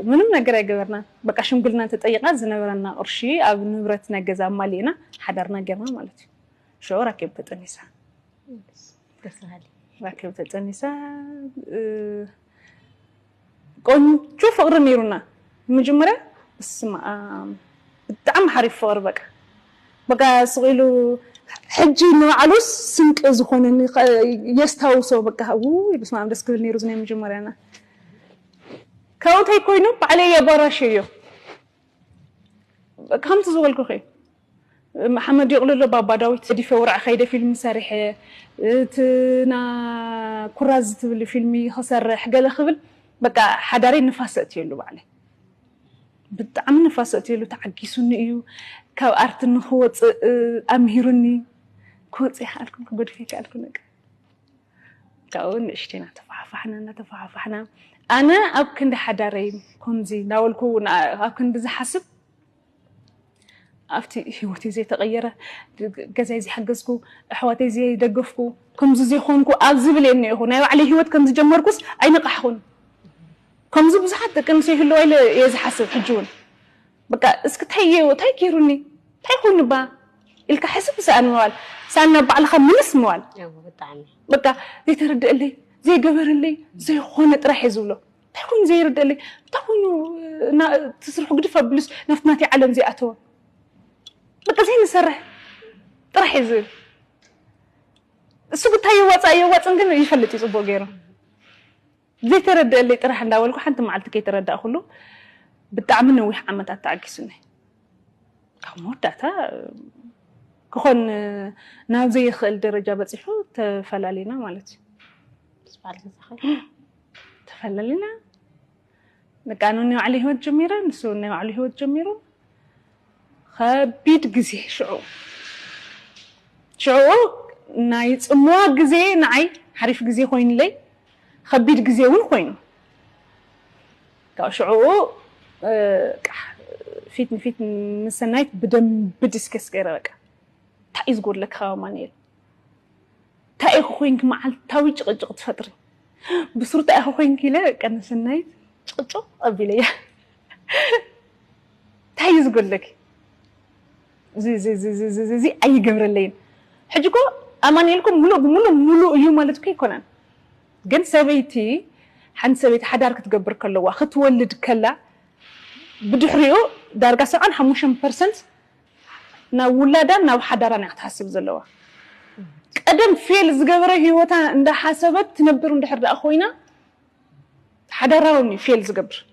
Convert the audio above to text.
ምንም ነገር ኣይገበርናን በቃ ሽምግልና ተጠይቃ ዝነበረና ቅርሺ ኣብ ንብረት ናይ ገዛ ኣማሊእና ሓዳርና ጌርና ማለት እዩ ሽዑ ራኬብ ተጠኒሳ ራኬብ ተጠኒሳ ቆንጆ ፍቅሪ ነይሩና መጀመርያ ስማ ብጣዕሚ ሓሪፍ ፍቅሪ በቃ በቃ ስቂሉ ሕጂ ንባዕሉ ስንቂ ዝኾነኒ የስታውሶ በቃ ውይ በስመ ኣብ ደስ ክብል ነይሩ ናይ መጀመርያና ካብኡ ተይኮይኑ ባዕለይ የባራሽዮ ከምቲ ዝበልኩኺ መሓመድ ይቕልሎ ባባ ዳዊት ገዲፈ ውርዐ ከይደ ፊልሚ ሰሪሐ እትና ኩራዝ ትብል ፊልሚ ክሰርሕ ገለ ክብል በቃ ሓዳረይ ንፋስ ኣእትየሉ ባዕለይ ብጣዕሚ ንፋስ ኣእትየሉ ተዓጊሱኒ እዩ ካብ ኣርቲ ንክወፅእ ኣምሂሩኒ ክወፅእ ይከኣልኩም ክገድፍ ይከኣልኩ ነቀ ካብኡ ንእሽተይ እናተፋሓፋሕና እናተፋሓፋሕና ኣነ ኣብ ክንዲ ሓዳረይ ከምዚ እናበልኩ ኣብ ክንዲ ዝሓስብ ኣብቲ ህይወተይ ዘይተቐየረ ገዛይ ዘይሓገዝኩ ኣሕዋተይ ዘይደገፍኩ ከምዚ ዘይኮንኩ ኣብ ዝብል እየ እኒኦኹ ናይ ባዕለይ ህይወት ከም ዝጀመርኩስ ኣይነቓሕኹን ከምዚ ብዙሓት ደቂ ኣንስትዮ ይህልዋ ኢለ እየ ዝሓስብ ሕጂ እውን በቃ እስኪ ታይ ታይ ገይሩኒ ታይ ኮይኑ ባ ኢልካ ሕስብ ሰኣን ምባል ሰኣን ናብ ባዕልኻ ምልስ ምባል እወ ብጣዕሚ በቃ ዘይተረደአለይ ዘይገበረለይ ዘይኾነ ጥራሕ እየ ዝብሎ እንታይ ኮይኑ ዘይርደለይ እንታይ ኮይኑ ትስርሑ ግድፍ ኣብሉስ ናብቲ ናተይ ዓለም ዘይኣተወ በቃ ዘይንሰርሕ ጥራሕ እዩ ዝብል እሱ ግታ የዋፃእ የዋፅን ግን ይፈልጥ እዩ ፅቡቅ ገይሩ ዘይተረደኣለይ ጥራሕ እንዳበልኩ ሓንቲ መዓልቲ ከይተረዳእኩሉ ብጣዕሚ ነዊሕ ዓመታት ተዓጊሱኒ ኣብ መወዳእታ ክኾን ናብ ዘይኽእል ደረጃ በፂሑ ተፈላሊና ማለት እዩ ተፈላሊና በቃ ኣነ ናይ ባዕለይ ሂወት ጀሚረ ንሱ ናይ ባዕሉ ሂወት ጀሚሩ ኸቢድ ግዜ ሽዑ ሽዑኡ ናይ ጽምዋ ግዜ ንዓይ ሓሪፍ ግዜ ኮይኑለይ ኸቢድ ግዜ እውን ኮይኑ ካብ ሽዑኡ ፊት ንፊት ምስ ሰናይት ብደንቢ ዲስከስ ገይረ በቃ እንታይ እዩ ዝጎድለካ ካብ ኣማንኤል ታይ ኢኺ ኮይንኪ መዓልታዊ ጭቕጭቕ ትፈጥሪ ብስሩ ታይ ኢኺ ኮይንኪ ኢለ በቃ ንሰናይት ጭቕጭቕ ኣቢለያ ታይ እዩ ዝጎድለኪ እዚ ኣይገብረለይን ሕጂ እኮ ኣማኒኤል እኮ ሙሉእ ብሙሉእ ሙሉእ እዩ ማለት እኮ ኣይኮነን ግን ሰበይቲ ሓንቲ ሰበይቲ ሓዳር ክትገብር ከለዋ ክትወልድ ከላ ብድሕሪኡ ዳርጋ ሰብዓን ሓሙሽተን ፐርሰንት ናብ ውላዳን ናብ ሓዳራን እያ ክትሓስብ ዘለዋ። ቀደም ፌል ዝገበረ ህይወታ እንዳሓሰበት ትነብር እንድሕር ደኣ ኮይና ሓዳራ ውን እዩ ፌል ዝገብር።